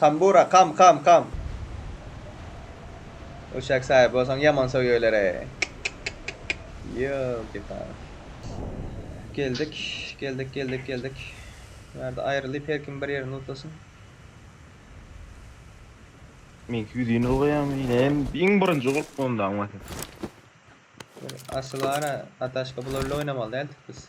Tambura kam kam kam. Uşak saýyp bolsaň ýaman soýýeler eý. Ýolki pal. Geldik geldik geldik geldik. Bu ýerde aýrylyp her kim bir ýerini lutlasyn. Meňki ýüzini ylgaýamy ine hem iň birinji gulplandy aňmasyz. Asyl ara ataşka bular ile oýnamaly däldik biz.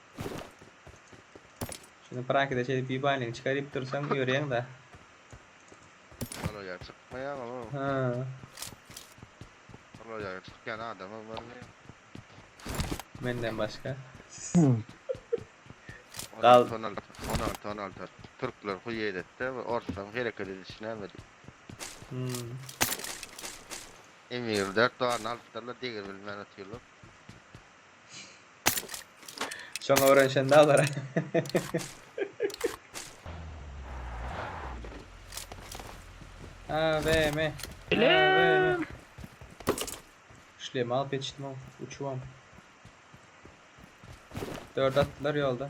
Şuny prakide şeýdip ýubaýynyňy çykaryp dursaň ýörýäňdä. Olaýar çykmaýar olar. Hä. Olaýar çykýan adamam bar diýýä. Menden başga. Gal. Onalty onalty onalty onalty türkler huý eýletde we orslaryň hereket edişi näme diýip. Hum. Emir dört doganny alypdyrlar degir bilmän otyrlar. Şoňa öwrenşende alara. AVM. AVM. Şlem alyp ýetişdim ow, uçubam. Dört atdylar ýolda.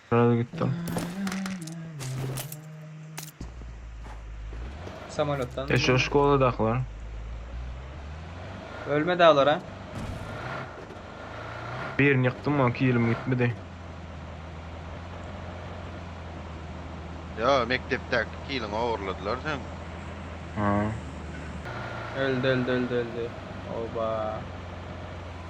Biraz gitdim. Samolotdan. E şu şkoladakylar. Ölmedi alara. Birini ýykdym ýa kilim gitmedi. Yo mekdepdäki kiliňi ogurladylar sen. Ha. Öldi öldi öldi öldi. Oba.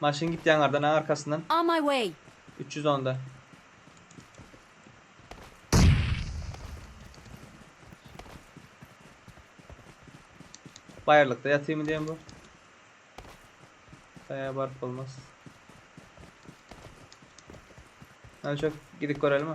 Maşyn git ýaňardan a arkasyndan. On my way. Üç ýüz onda. Baýyrlykda ýatyrmy diýen bu. Gaýa baryp bolmaz. Hany çök gidip görelimi?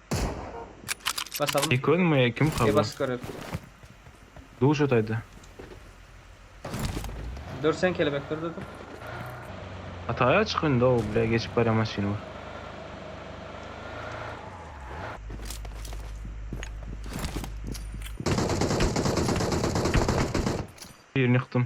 Basalym. Eko nma ýa kim kaza. Ebaş görek. Duşa taýda. Dörsen kelebek dur dur dur. Ataýa çyk indi o bile geçip barýan maşyn bar. Birini ýykdym.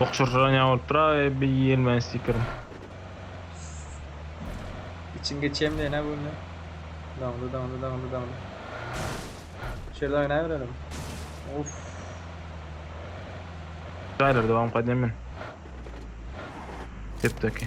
Okşursyran ýaly bolupdyr a bir ýigrimi stiker. İçin geçýän bilen ha bu indi. Daňdy daňdy daňdy daňdy. Şerden oýnaýberelim. Of. Şaýlar dowam gaýdýan men. Depdeki.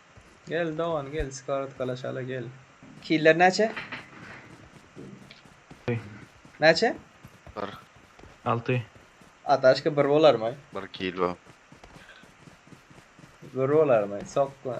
Gel dogan gel skartkalaşaly gel. Killer näçe? Hey. Näçe? Bir. Alty. Ataşka bir bolarmy? Bir kilo. Bir bolarmy? Sokma.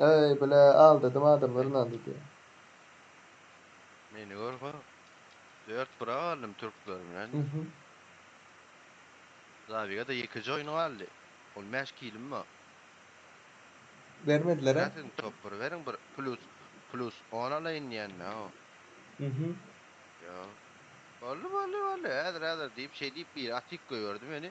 Eý, bile, aldadym adamlar ynandy diýýä. Meni gör ha. Dört bura galdym türkler bilen. Mhm. Zabigada ýekeje oýun galdy. On bäş killim bar. Bermediler-ä. Ýa siziň topary beriň bir plus plus on alaýyn diýende o. Mhm. Ýok. Boldy, boldy, boldy, häzir, häzir diýip, şeý diýip biri atik goýberdi meni.